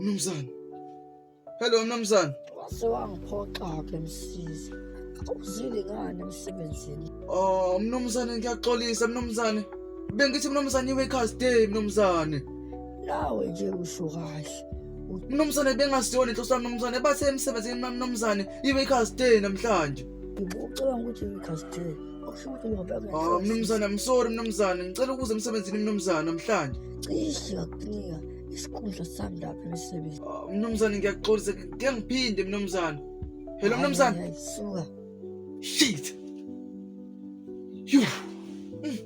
Mnumzane. Hello mnumzane. Wase wangiphoxa-ke msizi. Uzile ngani emsebenzini? Oh mnumzane ngiyaxolisa mnumzane. Bengithi mnumzane iwe cast day mnumzane. nawe nje usho kahle mnumzane bengasiyona inhloso yami mnumzane bathe emsebenzini mna mnumzane ibe i-cast day namhlanje ngicabanga ukuthi i-cast day okusho ukuthi ngoba Ah, mnumzane I'm sorry mnumzane ngicela ukuza emsebenzini mnumzane namhlanje cishe ngakunika isikhundla sami lapha emsebenzini Ah, mnumzane ngiyakuxolisa ke ngiphinde mnumzane hello mnumzane Hayi, hayi, suka shit Yuh. Mm.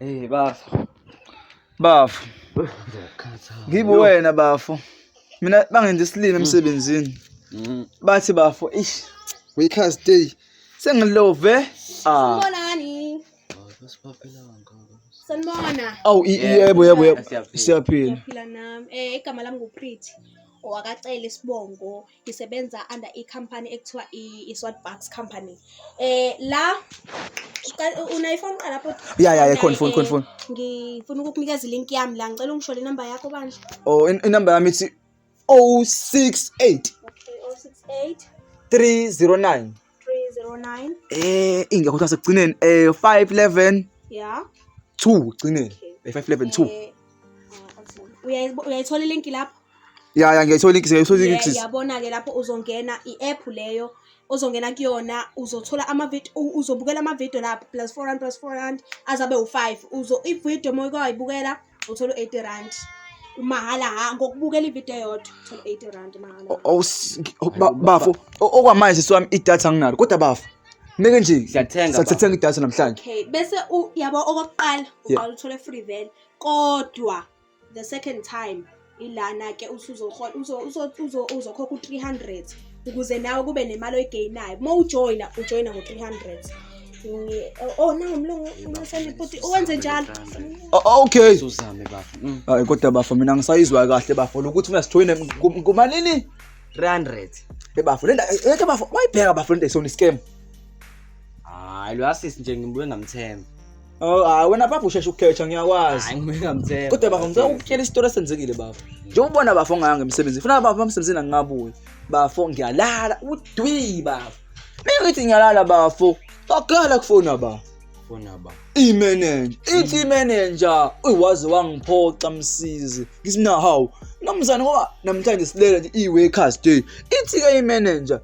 Eh bafo. Bafo. Ngibe wena bafo. Mina bangenza isilima mm. emsebenzini. Mm. Bathi bafo, ish. We can't stay. Sengilove. Ah. Sibonani. Sanibona. Awu yebo yebo yebo. Siyaphila. Siyaphila nami. Eh igama lami nguPretty. Owakacela isibongo. ngisebenza under i-company ekuthiwa i-swat bucks company eh la unayiphone qala lapho ya ya ikhona ifoni khona ifoni ngifuna ukukunikeza ilink yami la ngicela ungisho le number yakho bandla oh inumber yami ithi 068 068 309 309 eh ingekho kuthiwa sekugcineni eh 511 yeah 2 ugcineni eh 511 2 eh, uh, uyayithola ilink lapho ya ya ngiyayithola ilink ngiyayithola ilink yabona ke lapho uzongena i-app leyo ozongena kuyona uzothola amavidiyo uzobukela amavidiyo lapho plus four rand plus four rand azabe u-five uzo ividiyo uma ukwayibukela uthola u-eighty rand mahhala ha ngokubukela ividiyo yodwa uthola u-eighty rand mahhala O- o- s- o- ba- bafo o- okwamanje sisi wami idatha anginalo kodwa bafo meke nje Siyathenga, bafo. sathenga idatha namhlanje okay bese u- yabo okokuqala Yeah. uqala uthole free vele kodwa the second time ilana ke usuzokhokha u-300 ukuze nawe kube nemali oyigeyinayo uma ujoyina ujoyina ngo-300 oh nawo mlungu umesane futhi uwenze njalo okay uzame bafo mm. hayi kodwa bafo mina ngisayizwa kahle bafo lokuthi mina sijoyine kumalini 300 ebafo lenda yeke bafo wayibheka bafo lenda isona scam hayi lo assist nje ngibuye ngamthemba Oh, hayi wena bafo usheshe ukukhetha ngiyakwazi. Hayi ngeke ngamthemba. Kodwa bafo ngicela ukutshela isitori esenzekile bafo. Njengoba ubona bafo ngaya ngemsebenzi. Funa bafo emsebenzini angingabuyi. Bafo ngiyalala udwi bafo. Mina ngithi ngiyalala bafo. Bakhala kufona bafo. Fona ba. Imenenja. Ithi imenenja. Uy waze wangiphoxa msizi. Ngithi mina hawu. Namzana ngoba namhlanje silele nje i-workers day. Ithi ke imenenja.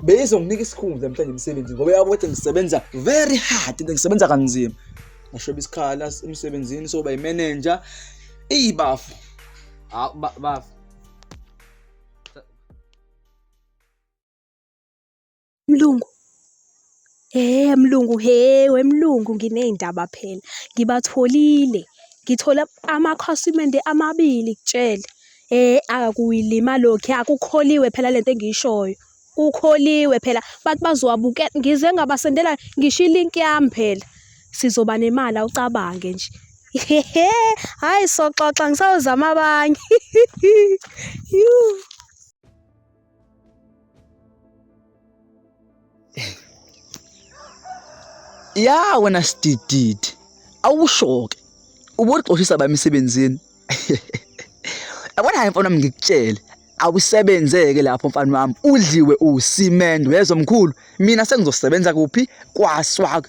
beyizonginika isikhundla mhlawumbe emsebenzini ngoba yabo ukuthi ngisebenza very hard into ngisebenza kanzima ngashoba isikhala emsebenzini soba imanager iyibafu hawu bafu mlungu Hhe mlungu hhe wemlungu nginey'ndaba phela ngibatholile ngithole amakhasimende amabili kutshele. Hhe akuyilima lokhu hhe akukholiwe phela lento engiyishoyo kukholiwe phela bathi bazowabukela ngize ngabasendela ngisho ilinki yami phela sizoba nemali awucabange nje. Hhe hhayi soxoxa ngisayozama abanye . ya wena sidididi awushoke uboxoshisa bami emsebenzini yabona hayi mfana ngikutshele awusebenzeke lapho mfana wami udliwe usimende wezomkhulu mina sengizosebenza kuphi kwaswak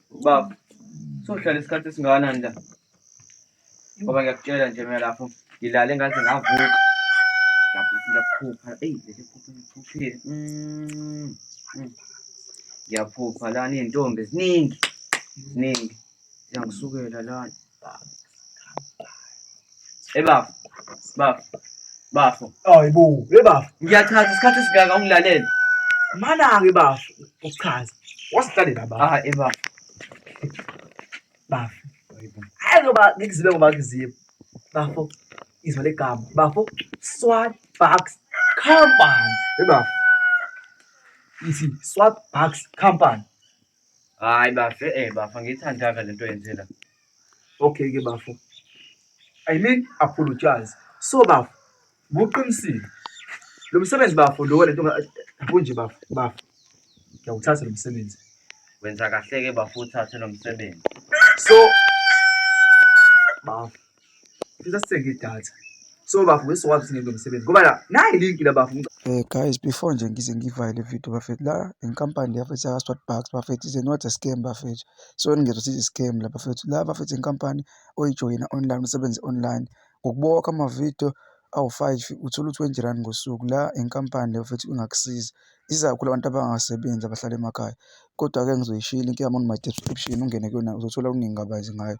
Baba, sohlala isikhathi esingakanani la? Ngoba ngiyakutshela nje mina lapho ngilale ngaze ngavuka. Ngiyaphupha, eyi leli phupho ngiphuphile. Mm, mm. Ngiyaphupha lana iy'ntombi ziningi, ziningi. Ziyangisukela lana. Hey bafo, bafo, bafo. Hayi bo, hey bafo. Ngiyachaza isikhathi esingaka ungilalele. Mana-ke bafo, uchaza. Wasihlalela bafo. Ah, hey bafo. Bafo. Hayi ngoba ngikuzibe ngoba ngikuzibe. Bafo, izwa legama. Bafo, Swat Bucks Company. Hey bafo. Ithi Swat Bucks Company. Hayi bafo, eh bafo angiyithandanga le nto yenze la. Okay ke bafo. I mean apologize. So bafo, buqinisile. Lo msebenzi bafo lo le nto kunje bafo, bafo. Ngiyawuthatha lo msebenzi. Wenza kahle ke bafo uthathe lo msebenzi. So bafo Ngifisa sithenge idatha. So bafo ngisokwazi singeke umsebenzi ngoba la nayi link la bafo. Eh guys before nje ngize ngivale video bafethu la inkampani yafethu yaka Swat Bucks bafethu is not a scam bafethu. So ningezwa sithi scam la bafethu la bafethu inkampani oyijoyina online usebenze online ngokubokha ama video awu-five uthola u-twenty rand ngosuku la inkampani leyo futhi ingakusiza isiza kakhulu abantu abangasebenzi abahlala emakhaya kodwa-ke ngizoyishilo inkinga yami on my description ungene kuyona uzothola okuningi kabanzi ngayo.